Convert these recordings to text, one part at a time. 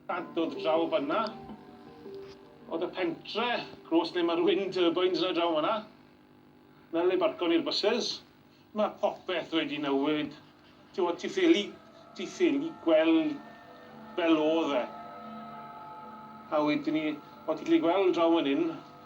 Bant dod draw fanna. Oedd y pentre gros lle mae'r wind turbines yna draw fanna. Fel le barco ni'r buses. Mae popeth wedi newid. Ti'n gwybod, ti ffili, ti ffili gweld fel oedd e. A wedyn ni, o ti'n gallu gweld draw fan hyn,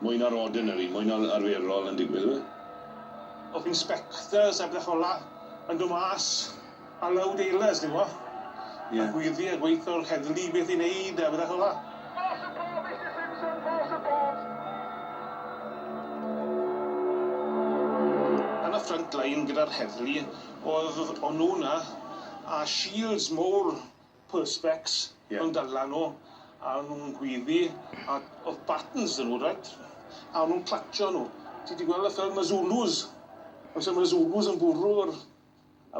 Mwy na'r ordinary, mwy na'r arferol yn digwydd yw e? O'ch inspectors a betha fel'a yn dod mas a loud ailers ti'n gwbo? Ie. A gwyddu a gweitho o'r heddlu beth i neud a betha fel'a. More support Mister Simpson, more support. Yn y front line gyda'r heddlu o'dd o'n nw 'na a shields mowr Perspex yn dod lan nhw a o'n nhw'n gweiddi a oedd batons dyn nhw reit a o'n nhw'n clatsio nhw ti di gweld y ffilm y Zulus os oedd y Zulus yn bwrw yr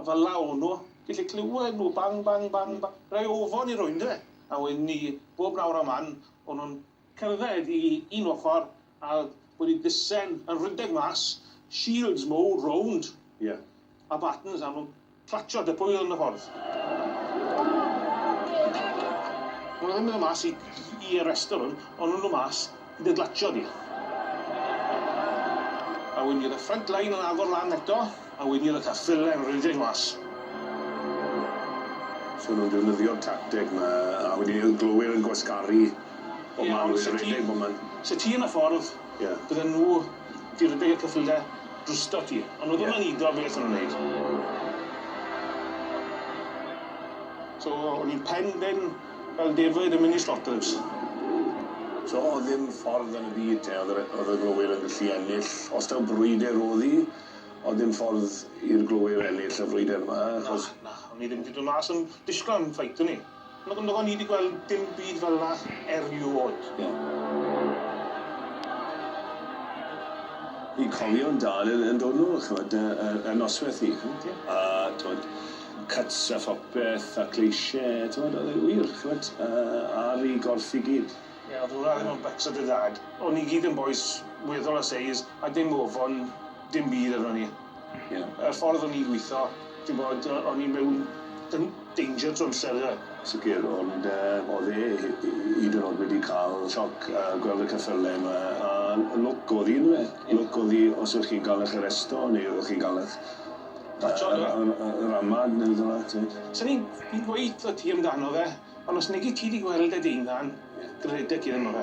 a fel la o'n nhw gallu clywed nhw bang bang bang bang rhai ofon i roi ynde a wedyn ni bob nawr a man o'n nhw'n cerdded i un ochr A wedi disen yn rhydeg mas, shields mowr rownd a batons am clatsio dy pwyl yn y ffordd. Maen nhw ddim yn dod mas i i arresto rhywun, ond nhw'n dod mas i dy glatsio di. A wedyn bydd y front line yn agor lan eto, a wedyn bydd y cyffyle yn rhedeg mas. So nhw'n defnyddio'r tacteg 'ma, a wedyn y glowyr yn gwasgaru. Bob man Lwyd a redeg bob man. Sa ti yn y ffordd. Ie. Bydden nhw 'di redeg y cyffyle drwstot ti. Ond odd o ddim yn udo beth o'n nw'n neud. So o'n i'n pen ben fel defaid yn myn' i Slotterds. So odd ddim ffordd yn y byd te odd yr yy odd y glowyr yn gallu ennill os taw brwydyr odd 'i odd dim ffordd i'r glowyr ennill y frwydyr 'ma achos... Na na o'n i ddim 'di do' mas yn disgwl am ffeit o'n i. Nag on ni di gweld dim byd fel na eriod. Fi'n cofio'n dad yn yn dod nôl ch'mod yy yy yn nosweth hi a t'mod cuts a phopeth a cleishe t'mod o'dd e wir ch'mod yy ar i gorff i gyd. Ie o'dd hwnna ddim yn bycs o dy dad. O'n ni gyd yn bois weddol o seis a dim ofon Dim byd amdano ni. Ie. Y ffordd o'n i'n gwitho ti'n bod o- o'n i mewn dyn- danger to amser ynde? Sicir ond yy o'dd e hy- hy- hyd yn o'd wedi ca'l sioc yy gweld y cyffyle 'ma a lwc o'dd 'i on'd yfe? Ie. Lwc o'dd 'i os o'ch chi'n ga'l 'ych aresto neu o'ch chi'n ga'l 'ych Patrol do? yy yy yy ramad ne' rwbeth fel 'a t'mod? Swn i'n i'n gweud 'tho ti amdano fe ond os negi ti 'di gweld e dy unan. Ie. Gredeg ti ddim o fe.